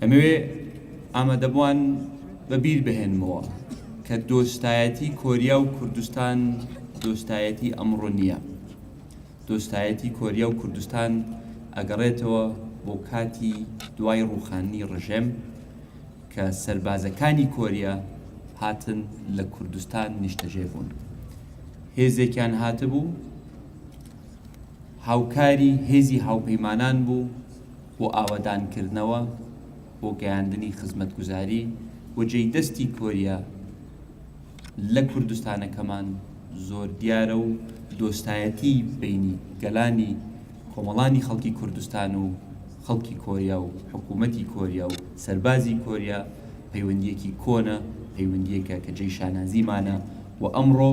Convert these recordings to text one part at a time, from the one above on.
ئەمەوێ ئامادەبوان بە بیر بهێنمەوە کە دۆستایەتی کۆریا و کوردستان دۆستایەتی ئەمڕۆ نییە دۆستایەتی کۆریا و کوردستان ئەگەڕێتەوە بۆ کاتی دوای ڕوخانی ڕژێم کە سربازەکانی کۆریا هاتن لە کوردستان نیشتەژێ بوون هێزێکیان هاتبوو هاوکاری هێزی هاوپەیمانان بوو بۆ ئاوەدانکردنەوە، بۆ گەیاندنی خزمەتگوزاری و جێی دەستی کۆریا لە کوردستانەکەمان زۆر دیارە و دۆستایەتی بەینی گەلانی کۆمەڵانی خەڵکی کوردستان و خەڵکی کۆریا و حکوومەتی کۆریا و سەربازی کۆریا پەیوەندییەکی کۆنە، پەیوەندییەکە کە جێی شانازیمانە و ئەمڕۆ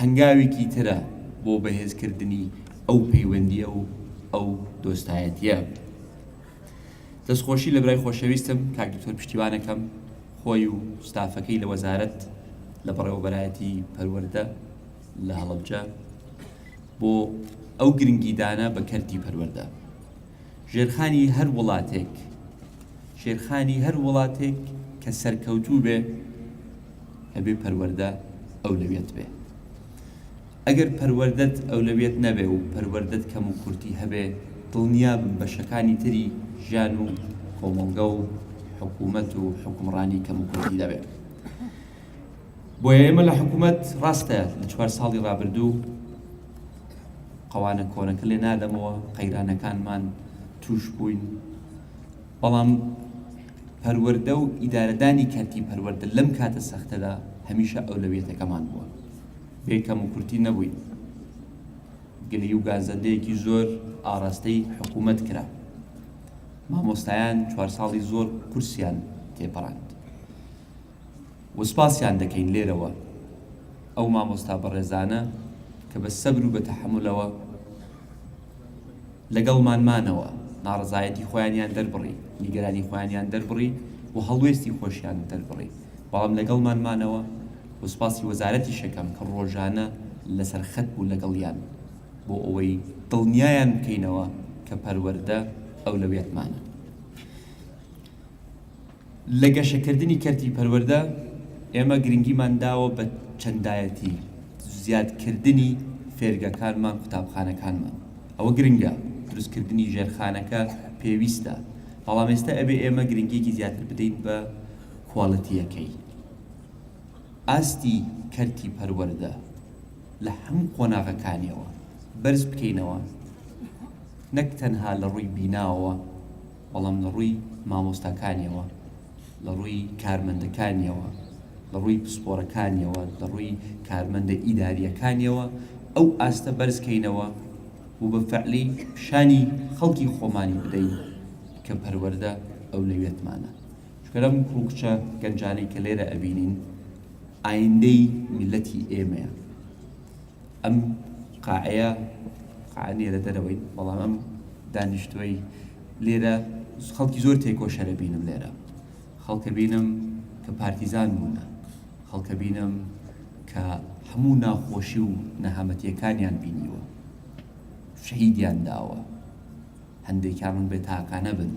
هەنگاوێکی ترە بۆ بەهێزکردنی. ئەو پەیوەندیە و ئەو دۆستایەتیە. دەستخۆشی لەبرای خۆشەویستم کاک دکتۆر پشتیوانەکەم خۆی و ستافەکەی لە وەزارەت لە بەڕێوەبەرایەتی پەروەردە لە هەڵەبجە بۆ ئەو گرنگیدانە بە کەرتی پەروەردە ژێرخانی هەر وڵاتێک شێرخانی هەر وڵاتێک کە سەرکەوتوو بێ هەبێ پەروەردە ئەولەویەت بێ ئەگەر پەروەردەت ئەولەویەت نەبێ و پەروەردەت کەم و کورتی هەبێ دڵنیابم بەشەکانی تری ژیان و کۆمەڵگە و حکومەت و حوکمڕانی کەم و کورتی دەبێ بۆیە ئێمە لە حکومەت ڕاستە لە چوار ساڵی ڕابردوو قەوانە کۆنەکە لێ نادەمەوە قەیرانەکانمان توش بووین بەڵام پەروەردە و ئیدارەدانی کەرتی پەروەردە لەم کاتە سەختەدا هەمیشە ئەولەویەتەکەمان بووە بێ کەموکورتی نەبووی گلی و گازەندەیەکی زۆر ئاڕاستەی حکوومەت کرا مامۆستایان چوار ساڵی زۆر قورسیان تێپەڕاند وسپاسیان دەکەین لێرەوە ئەو مامۆستا بەڕێزانە کە بە سەبر و بە تەحملەوە لەگەڵمان مانەوە، ناڕەزایەتی خۆیانیان دەربڕی، نیگەرانی خۆیانیان دەربڕی و هەڵوێستی خۆشیان دەربڕی، بەڵام لەگەڵمان مانەوە و سوپاسی وەزارەتیش ئەکەم کە ڕۆژانە لەسەر خەت بوو لەگەڵیان بۆ ئەوەی دڵنیایان بکەینەوە کە پەروەردە ئەولەویەتمانە. لە گەشەکردنی کەرتی پەروەردە، ئێمە گرنگیمان داوە بە چەندایەتی، زیادکردنی فێرگەکانمان، قوتابخانەکانمان ئەوە گرنگە، دروستکردنی ژێرخانەکە پێویستە، بەڵام ئێستا ئەبێ ئێمە گرنگییەکی زیاتر بدەین بە کوالیتییەکەی. ئاستی کەرتی پەروەردە لە هەموو قۆناغەکانییەوە بەرز بکەینەوە، نەک تەنها لە ڕووی بیناوەوە، بەڵام لە ڕووی مامۆستاکانیەوە، لە ڕووی کارمەندەکانیەوە، لە ڕووی پسپۆرەکانیەوە، لە ڕووی کارمەندە ئیدارییەکانیەوە ئەو ئاستە بەرز کەینەوە و بە فەعلی پیشانی خەڵکی خۆمانی بدەین کە پەروەردە ئەو لەوێتمانە. چونکە ئەم کوڕ و کچە گەنجانەی کە لێرە ئەبینین ئایندەی میللەتی ئێمەیە. ئەم قاعەیە قاعە نیە لە دەرەوەی بەڵام ئەم دانیشتوەی لێرە خەڵکی زۆر تێکۆشەرە بینم لێرە خەڵکە بینم کە پارتیزان بوونە خەڵکە بینم کە هەموو ناخۆشی و نەهامەتیەکانیان بینیوە شەهیدیان داوە هەندێکیان من بێ تاکانە بن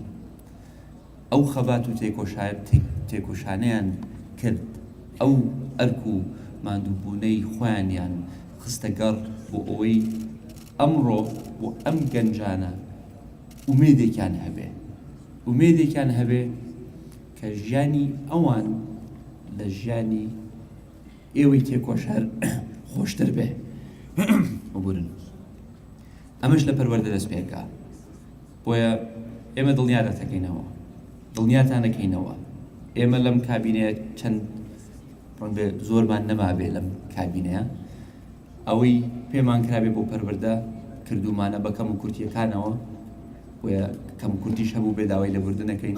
ئەو خەبات و تێکۆشانەیان کرد، ئەو ئەرک و ماندووبوونەی خۆیانیان خستە گەڕ بۆ ئەوەی ئەمڕۆ بۆ ئەم گەنجانە ئومێدێکیان هەبێ، ئومێدێکیان هەبێ کە ژیانی ئەوان لە ژیانی ئێوەی تێکۆشەر خۆشتر بێ. ئەمەش لە پەروەردە دەست پێ ئەکا. بۆیە ئێمە دڵنیا دەتەکەینەوە، دڵنیاتان دەکەینەوە، ئێمە لەم کابینەیە چەند ڕەنگە زۆرمان نەمابێ لەم کابینەیە، ئەوەی پێمان کرابێ بۆ پەروەردە کردوومانە بە کەم و کورتییەکانەوە، بۆیە کەم و کورتیش هەبوو بێ داوای لێبوردن نەکەین،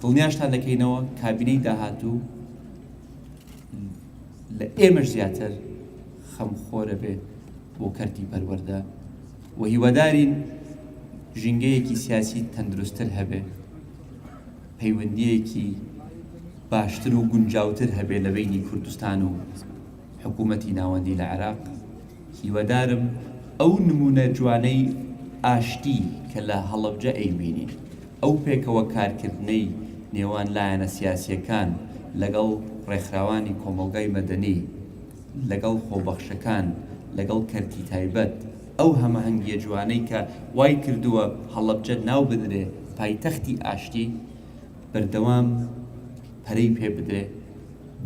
دڵنیاشتان دەکەینەوە کابینەی داهاتوو لە ئێمەش زیاتر خەمخۆرە بێ بۆ کەرتی پەروەردە. و هیوادارین ژینگەیەکی سیاسی تەندروستتر هەبێ، پەیوەندییەکی باشتر و گونجاوتر هەبێ لە بەینی کوردستان و حکوومەتی ناوەندی لە عێراق. هیوادارم ئەو نموونە جوانەی ئاشتی کە لە هەڵەبجە ئەیبینین، ئەو پێکەوە کارکردنەی نێوان لایەنە سیاسییەکان لەگەڵ ڕێکخراوانی کۆمەڵگای مەدەنی، لەگەڵ خۆبەخشەکان، لەگەڵ کەرتی تایبەت، ئەو هەمەهەنگییە جوانەی کە وای کردووە هەڵەبجە ناو بنرێ پایتەختی ئاشتی، بەردەوام پەرەی پێ بدرێ،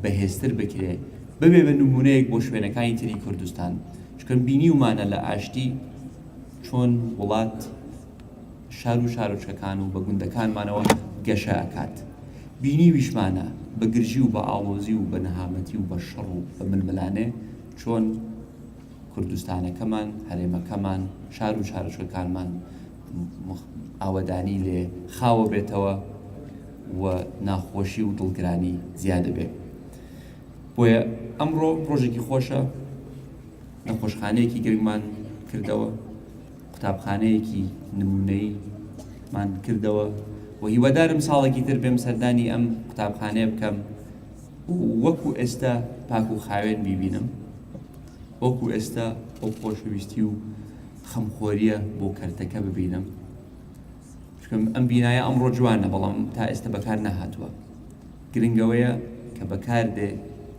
بەهێزتر بکرێ، ببێ بە نموونەیەک بۆ شوێنەکانی تری کوردستان، چونکە بینیومانە لە ئاشتی چۆن وڵات، شارو شارۆچکەکان و بە گوندەکانمانەوە گەشە ئەکات بینیویشمانە بە گرژی و بە ئاڵۆزی و بە نەهامەتی و بە شەڕ و بە ململانێ چۆن کوردستانەکەمان هەرێمەکەمان شارو شارۆچکەکانمان ئاوەدانی لێ خاوەبێتەوە و ناخۆشی و دڵگرانی زیادەبێ بۆیە ئەمڕۆ ڕۆژێکی خۆشە نەخۆشخانەیەکی گرنگمان کردەوە قوتابخانەیەکی نموونەیی مان کردەوە و هیوادارم ساڵێکی تر بێم سەردانی ئەم قوتابخانەیە بکەم و وەکو ئێستا پاک و خاوێن بیبینم وەکو ئێستا ئەو خۆشەویستی و خەمخۆریە بۆ کەرتەکە ببینم چکم ئەم بینایە ئەمڕۆ جوانە بەڵام تا ئێستا بەکار نەهاتووە گرنگەوەیە کە بەکار بێ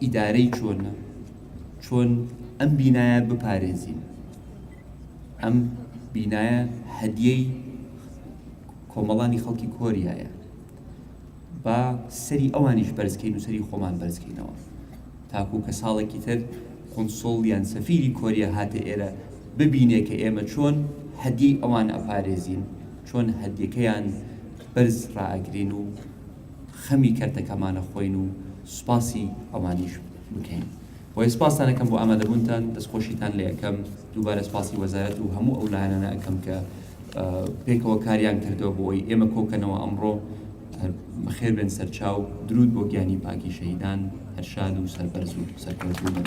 ئیدارەی چۆنە چۆن ئەم بینایە بپارێزین ئەم بینایە هەدیەی کۆمەڵانی خەڵکی کۆریایە با سەری ئەوانیش بەرزکەین و سەری خۆمان بەرزکەینەوە تاکو کە ساڵێکی تر قنسڵ یان سەفیری کۆریا هاتە ئێرە ببینێ کە ئێمە چۆن هەدیەی ئەوان ئەپارێزین چۆن هەدیەکەیان بەرز ڕائگرین و خەمی کەرتەکەمانە خۆین و سوپاسی ئەوانیش بکەین. وەی سپاستان ئەکەم بۆ ئامادەبوونتان دەستخۆشیتان لێ ئەکەم دووبارە سپاسی وەزارەت و هەموو ئەو لایەنانە ئەکەم کە پێکەوە کاریان کردەوە بۆ ئەوی ئێمە کۆکەنەوە ئەمڕۆ بەخێربێن سەرچاو درود بۆ گیانی پاکی شەهیدان هەرشاد و سەربەرز و سەرکەوتوو بن.